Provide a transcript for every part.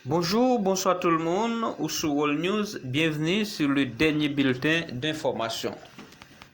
Bonjou, bonswa tout l moun, ou sou World News, byenvni sou le dènye bilten denfòmasyon.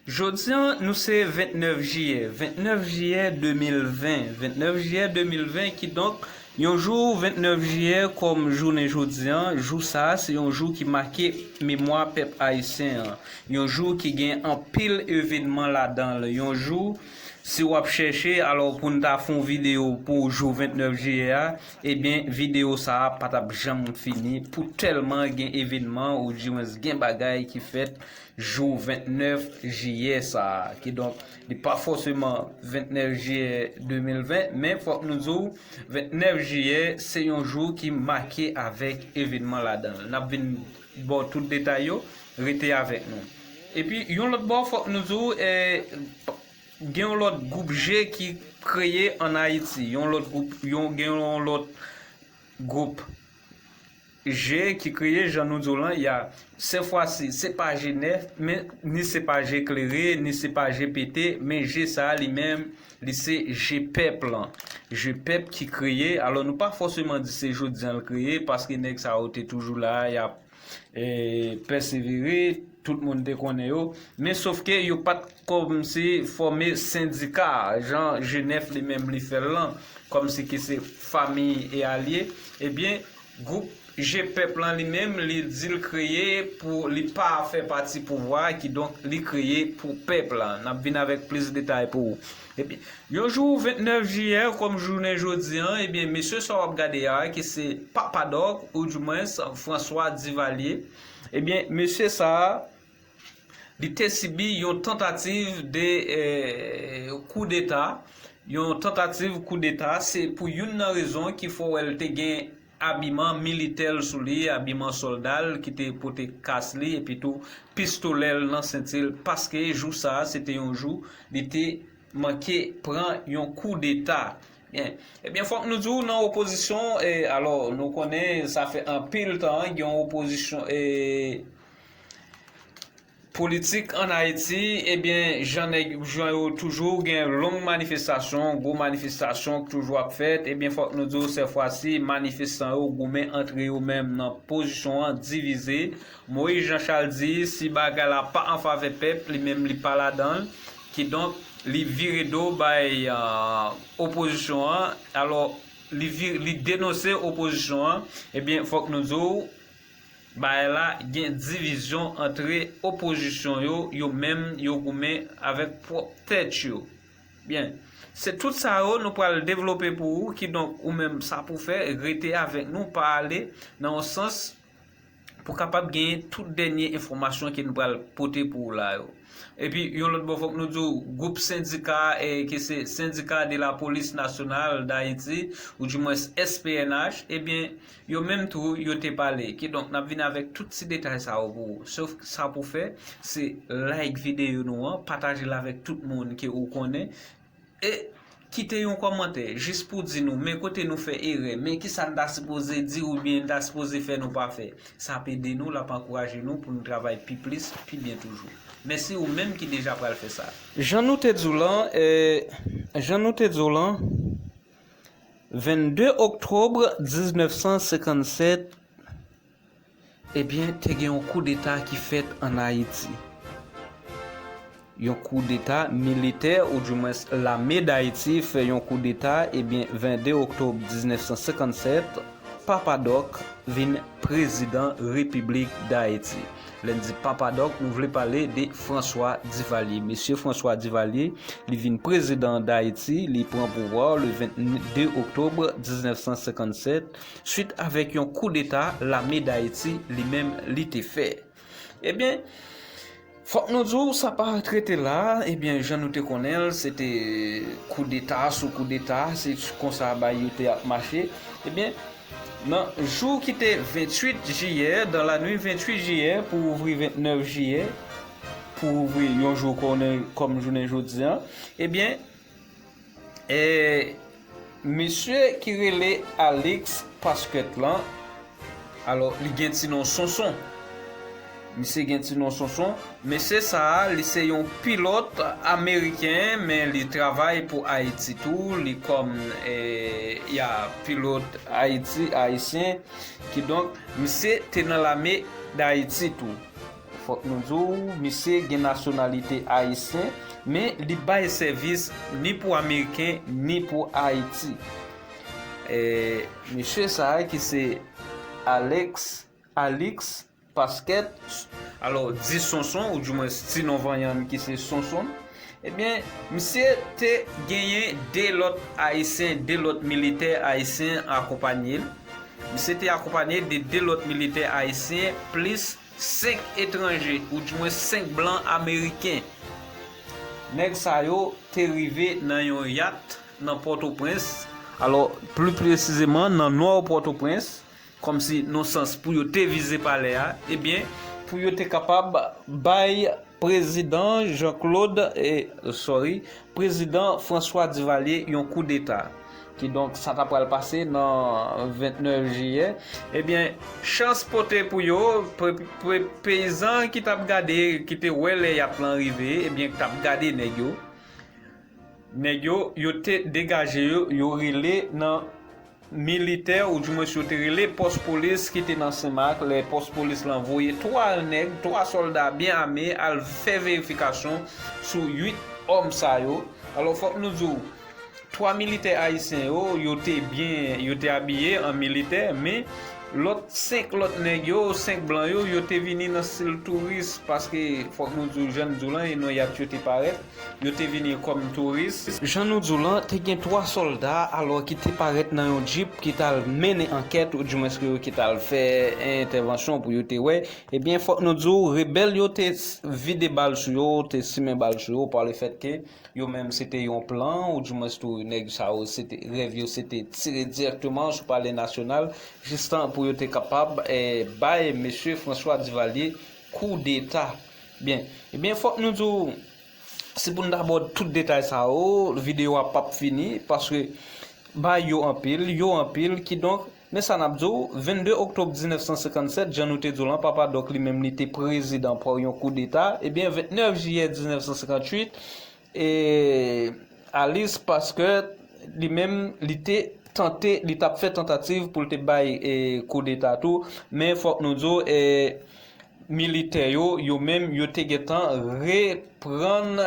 Jodi an nou se 29 jiyè, 29 jiyè 2020, 29 jiyè 2020 kidonk yon jou 29 jiyè kòm jounen jodi an, jou sa a se yon jou ki make memwa pèp ayisyen an, yon jou ki gen anpil evenman ladan l, yon jou. Si w ap chèche alò pou n ta fè yon videyo pou jou 29 jiyè a, ebyen videyo sa a pa t ap janm fini pou tèlman gen evenman oudiwens gen bagay ki fèt jou 29 jiyè sa a. Kidonk, li pa fòseman 29 jiyè 2020, men fòk nou di w 29 jiyè se yon jou ki make avèk evenman ladan l. N ap vin. ba w tout detay yo, rete avèk nou. Epi yon lòt bò fòk nou di w gen yon lòt gwoup je ki kreye an Ayiti, yon lòt gwoup, gen yon lòt gwoup je ki kreye jan nou di w lan y a, se fwa si se pa je nèf men ni se pa je klere ni se pa je pete men je sa a li menm Li se je pèp lan. Je pèp ki kreye. Alò nou pa fòseman di se jodi an l kreye paske nèg sa yo te toujou la a y ap pèsevere, tout moun te konnen yo. Men sof ke yo pa t kòmnse fòme sendika a jan Jenèf li menm li fè l lan kòmnse ke se famiy e alye. Ebyen Gwoup Je Pèp lan li menm li di l kreye pou li pa fè pati pouvwa a kidonk li kreye pou pèp la. N ap vin avèk plis detay pou ou. Ebyen, yon jou 29 jiyè kòm jounen jodi an, ebyen mesye sa w ap gade a ki se Papa Dòk ou di mwens François Duvalier, ebyen mesye sa a, Li te sibi yon tantativ de kou deta, yon tantativ kou deta se pou youn nan rezon ki fè wè l te gen abiman militè l sou li, abiman sòlda l ki te pote kas li epi tou pistolè l nan senti l paske jou sa a se te yon jou li te manke pran yon kou deta. Ebyen fòk nou di w nan opozisyon alò nou konnen sa fè anpil tan gen yon opozisyon. Politik an Ayiti, ebyen jan nèg jan yo toujou gen long manifestasyon, gwo manifestasyon k toujou ap fèt, ebyen fòk nou di w sè fwa si manifestan yo goumen antre yo menm nan pozisyon an divize, Moïse Jean Charles di si bagay la pa an favè pèp li menm li pa ladan l, kidonk li vire do bay opozisyon an, alò li denonse opozisyon an, ebyen fòk nou di w. Bagay la gen divizyon antre opozisyon yo, yo menm yo goumen avèk pwòp tèt yo. Byen, se tout sa yo nou pral devlope pou ou, kidonk ou menm sa pou fè, rete avèk nou, pa ale nan yon sans pou kapab genyen tout dènye enfòmasyon ke nou pral pote pou ou la yo. Epi yon lòt bò fòk nou di ou, gwoup sendika ke se Syndicat de la Police Nationale d'Haïti, ou di mwens SPNH, ebyen, Yo menm tou, yo te pale. Kidonk, n ap vin avèk tout ti detay sa yo pou ou. Sof sa pou fè, se like videyo nou an, pataje l avèk tout moun ke ou konnen, e kite yon kòmantè jis pou di nou men kote nou fè erè, men kisa n ta sipoze di oubyen n ta sipoze fè nou pa fè. Sa ap ede nou, l ap ankouraje nou pou nou travay pi plis, pi byen toujou. Mèsi ou menm ki deja pral fè sa. Jan nou te di w lan, Jan nou te di w lan. 22 oktòb 1957, ebyen te gen yon koudeta ki fèt an Ayiti. Yon koudeta militè ou di mwens lame Dayiti fè yon koudeta ebyen 22 oktòb 1957, Papa Dòk vin prezidan Repiblik Dayiti. Lè n di Papa Dòk, nou vle pale de François Duvalier. Mesye François Duvalier, li vin prezidan Dayiti, li pran pouvwa le 22 oktobre 1957, swit avèk yon koudeta lame Dayiti li menm li te fè. Ebyen, fòk nou di w, sa pa trete la, ebyen jan nou te konnen l, se te koudeta sou koudeta, se konsa bagay yo te ap mache, ebyen, Nan jou ki te 28 jiyè, dan la nwi 28 jiyè pou ouvri 29 jiyè, pou ouvri yon jou konnen kòm jounen jodi an, ebyen, e, mesye ki rele Alix Pasquet lan, alò, li gen ti non Sonson. Misye gen ti non Sonson. Mesye sa a, li se yon pilòt ameriken men li travay pou Ayiti tou, li kòm ya pilòt Ayiti, ayisyen, kidonk misye te nan lame Dayiti tou. Fòk nou di w, misye gen nasyonalite ayisyen, men li bay sèvis ni pou ameriken ni pou Ayiti. Mesye sa a ki se Alex, Alix. Paskèt, alò di Sonson ou di mwens ti non vanyan li ki se Sonson, ebyen misye te genyen 2 lòt ayisyen, 2 lòt militè ayisyen akonpanye l, misye te akonpanye de 2 lòt militè ayisyen plis 5 etranje ou di mwens 5 blan ameriken. Nèg sa yo te rive nan yon yat nan Pòtoprens, alò pli presizeman nan nò Pòtoprens, Kòmsi non sans pou yo te vize palè a, ebyen pou yo te kapab bay prezidan Jean Claude e sorry prezidan François Duvalier yon kou deta. Kidonk sa ta pral pase nan 29 jiyè, ebyen chans pote pou yo peyizan ki tap gade ki te wè lè yap lan rive ebyen ki tap gade nèg yo, nèg yo yo te degaje yo yo rele nan. militè ou di mwens yo te rele pòs polis ki te nan Senmak lè pòs polis lan voye 3 nèg, 3 sòlda byen ame al fè verifikasyon sou 8 òm sa yo. Alò fòk nou di w 3 militè ayisyen yo, yo te byen, yo te abiye an militè men lòt 5 lòt nèg yo, 5 blan yo, yo te vini nan stil touris paske fòk nou di w jan n di w lan e non yat yo te parèt. Yo te vini kòm touris. Jan nou di w lan, te gen twa sòlda alò ki te parèt nan yon djip ki t al mennen ankèt oudiwens ke yo ki t al fè entèvansyon pou yo te wè. Ebyen, fòk nou di w, rebèl yo te vide bal sou yo, te simen bal sou yo pa le fèt ke yo menm se te yon plan oudiwens tou nèg sa yo se te rèv yo se te tire dirèkteman sou palè nasyonal jistan pou yo te kapab bay mesye Franswa Divalye koudeta. Byen, ebyen fòk nou di w, si pou n ta ba w tout detay sa yo, videyo a pap fini, paske baay yo anpil, yo anpil, kidonk, men sa n ap di w, 22 oktòb 1957, jan nou te di w lan, Papa Dòk li menm li te prezidan pa yon koudeta, ebyen 29 jiyè 1958, E Alice paske li menm li te tante li tap fè tantativ pou l te bay koudeta tou men fòk nou di w militè yo yo menm yo te gentan reprann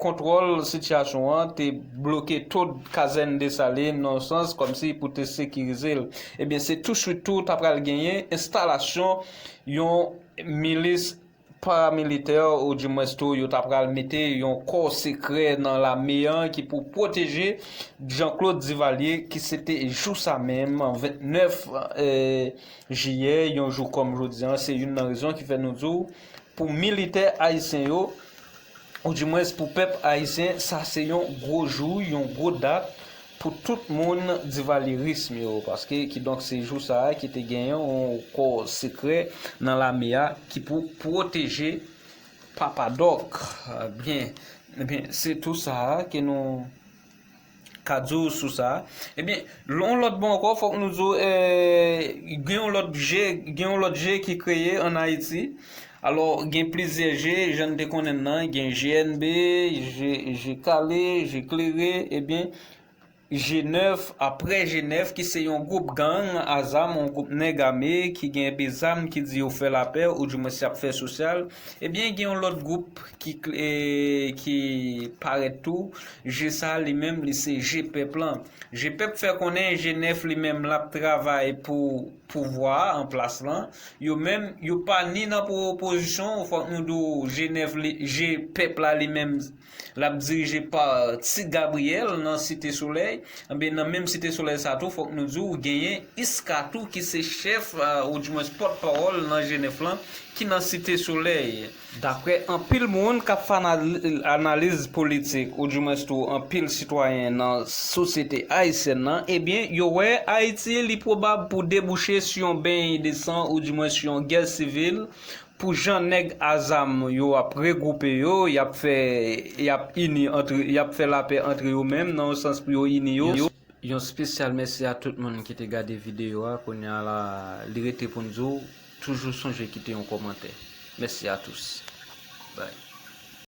kontwòl sitiyasyon an te bloke tout kazèn Desalin nan yon sans kòmsi pou te sekirize l ebyen se touswit tou ta pral genyen enstalasyon yon milis paramilitè ou di mwens tou yo ta pral mete yon kò sekrè nan lame an ki pou pwoteje Jean Claude Duvalier ki se te jou sa menm 29 jiyè yon jou kòm jodi an se youn nan rezon ki fè nou di w pou militè ayisyen yo ou di mwens pou pèp ayisyen sa se yon gwo jou yon gwo dat Pou tout moun divalyerism yo paske kidonk se jou sa a ki te gen yon kò sekrè nan lame a ki pou pwoteje papa dòk byen ebyen se tou sa a ke nou ka di w sou sa ebyen yon lòt bò ankò fòk nou di w gen yon lòt je gen yon lòt je ki kreye an ayiti Alò, gen plizyè je, jan n te konnen l lan, gen GNB, je, je kale, je klere, ebyen, je nèf, aprè je nèf, ki se yon gwoup gang a zam, yon gwoup nèg ame, ki gen enpe zam, ki di yo fè lapè, ou di mwens y ap fè sosyal, ebyen, gen yon lòt gwoup, ki, ki parèt tou, je sa a li menm, li se je pèp lan. Je pèp fè konnen je nèf li menm l ap travay pou. pouvwa a an plas lan yo menm yo pa ni nan pou opozisyon fòk nou di w jenèv li je pèp la li menm l ap dirije pa ti gabriyèl nan site solèy enben nan menm site solèy sa tou fòk nou di w genyen iska tou ki se chèf ou di mwens pòt pawòl nan jenèf lan ki nan site solèy. Daprè anpil moun kap fè analiz politik ou di mwens tou anpil sitwayen nan sosyete ayisyèn nan ebyen yo wè Ayiti li pwobab pou debouche sou yon beny de san ou di mwens yon gè sivil pou jan nèg a zam yo ap regwoupe yo yap fè yap ini antre yap fè lapè antre yo menm nan yon sans pou yo ini yo. Yon spesyal mèsi a tout moun ki te gade videyo a kounya la li rete poun di w Toujou sonje kite yon komantè. Mèsi a tous. Bye.